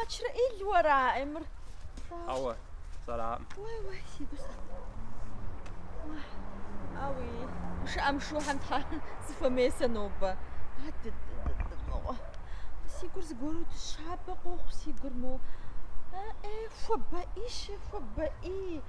Мэчрэӏил уэра, Эмыр? Ауэ, сэраӏым. Уэ, уэ, си гусэ. Ауи, щыӏэм щыхьэм тхьэ зыхуэмесэ нобэ. Си гур зыгуэру дэщабэ къохъу си гур мо. Э, э, хуэбэӏи, щэ, хуэбэӏи.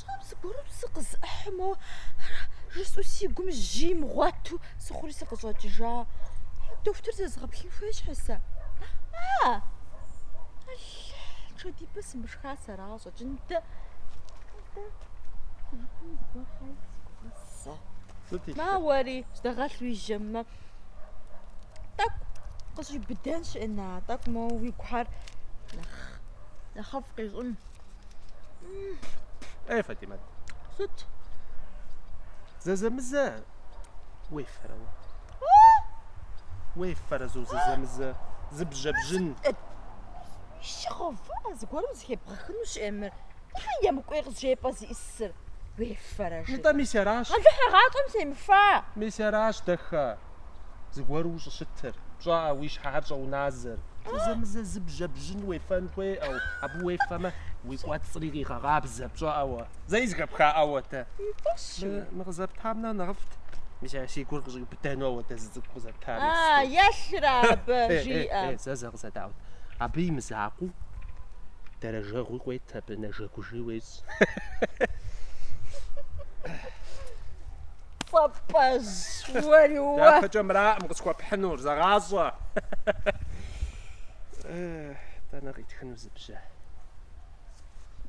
Тхьэм зыгуэру сыкъызэӏыхьэну жысӏэу си гум жьи имыгъуэту сыхъури сыкъыщӏэкӏыжа. Дохутыр зэзгъэплъын хуей щхьэ сэ? А! Пщэдджыжьыпэ сымышха сэ арагъэщӏэкӏын дэ. Сыт илъыр? Мауэри, здэгъэлъ уи жэммэ. Тӏэкӏу къыщӏиубыдэнщ, Эна, тӏэкӏу моуэ уи гухэр нэхъ нэхъыфӏ къищӏын. Ей, Фатимэт. Сыт? Зэзэмызэ уефэрэ уэ? Уефэрэ зэзэмызэ зы бжьэ бжьыныху гъэва зыгуэрым зыхебгъэхынущ, Эмыр. Тхьэм емыкӏуей къызжепӏэр зиунагъуэрэ уефэрэ, жи. Нтӏэ, мис аращ. Алыхь си гъащӏэм семыфа. Мис аращ, дэхэ, зыгуэру ущӏыщытыр, пщӏаӏэ, уи щхьэхэр щӏэуназэр. Зэзэмызэ зы бжьэ бжьын уефэн хуеӏэу, абы уефэмэ, уи кӏуэцӏри къегъэкъабзэ, пщӏаӏэ уэ. Зэи зыхэпхаӏэ уэ, тэ. Фӏыщ уи. Мы къызэптам нэхъ нэхъыфӏт. Мис ар си гур къыщӏиубыдэну уэ дэ зы цӏыкӏу къызэптам. А, елъыр абы, жиӏэ. Э, э, э, зэ, зэ. Къызэдаӏуэт. Абы и мызакъуэу дэрэжэгъуи къыует, абы нэжэгужи уещӏ. Папэжь, уэри уэ. Дяпэкӏэ мыраӏым къысхуэпхьынур, зэгъащӏэ. Дэнэ къитхыну зы бжьэ?